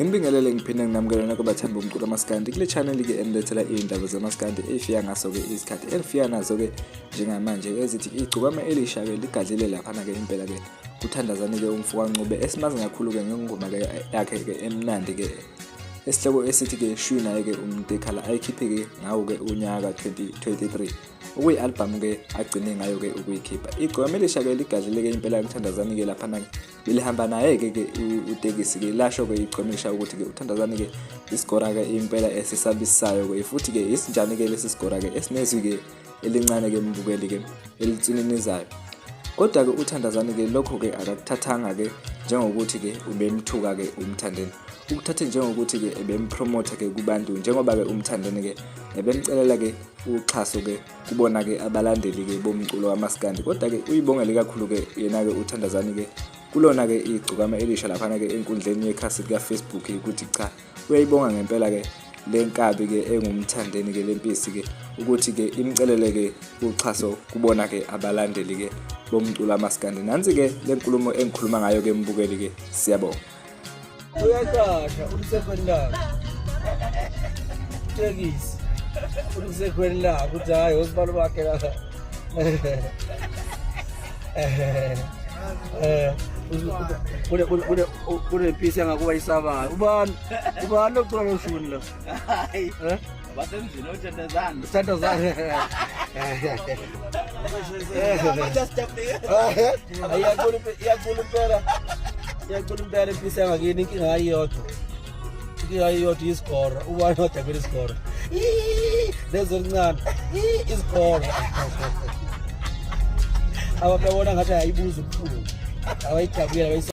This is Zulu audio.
Ngibingelele ngiphinde nginamukele nonke abathanda umculo amaskandi kule channel ke enilethela iy'ndaba zamaskandi ey'fika ngaso-ke izikhathi elifika nazo-ke njengamanje ezithi igcukama elisha-ke ligadlile laphana-ke impela-ke kuthandazane-ke umfokancube esimazi kakhulu-ke ngengoma-ke yakhe-ke emnandi-ke esihloko esithi-ke shwi naye-ke umtekhala ayikhiphe-ke ngawo-ke unyaka 2023 okuyi-albhamu-ke agcine ngayo-ke ukuyikhipha igcwame lisha-ke ligadlile-ke impela kuthandazani-ke laphana-ke belihamba naye-ke ke utekisi-ke lasho-ke igcwame lisha ukuthi-ke uthandazani-ke isigora-ke impela esisabisayo-ke futhi-ke isinjani-ke lesi sigora-ke esinezwi-ke elincane ke mbukeli ke elitsininizayo kodwa ke uthandazani ke lokho ke akakuthathanga ke njengokuthi ke ubemthuka ke umthandeni ukuthathe njengokuthi ke ebempromote ke kubantu njengoba ke umthandeni ke ebemcelela ke uxhaso ke kubona ke abalandeli ke bomculo wamaskandi kodwa ke uyibongele kakhulu ke yena ke uthandazani ke kulona ke igcukama elisha laphana ke enkundleni yekhasi lika Facebook ukuthi cha uyayibonga ngempela ke lenkabi ke engumthandeni ke lempisi ke ukuthi ke imcelele ke uxhaso kubona ke abalandeli ke bomculo amaskandi nansi ke lenkulumo engikhuluma ngayo ke mbukeli ke siyabonga uyaqasha umsekhweni lakho tekisi umsekhweni lakho ukuthi hayi osibalo bakhe la kunepisi angakuba isabayo ubani ubani lokucula loshuni lo basemzini othandazana uthandazana iyacula impela iyacula impela impisi yangakini inkinga ayiyodwa iyodwa isigora ubani odabela isigora lezo elincane isigora abababona ngathi ayibuza ubuhlungu abayidabuyela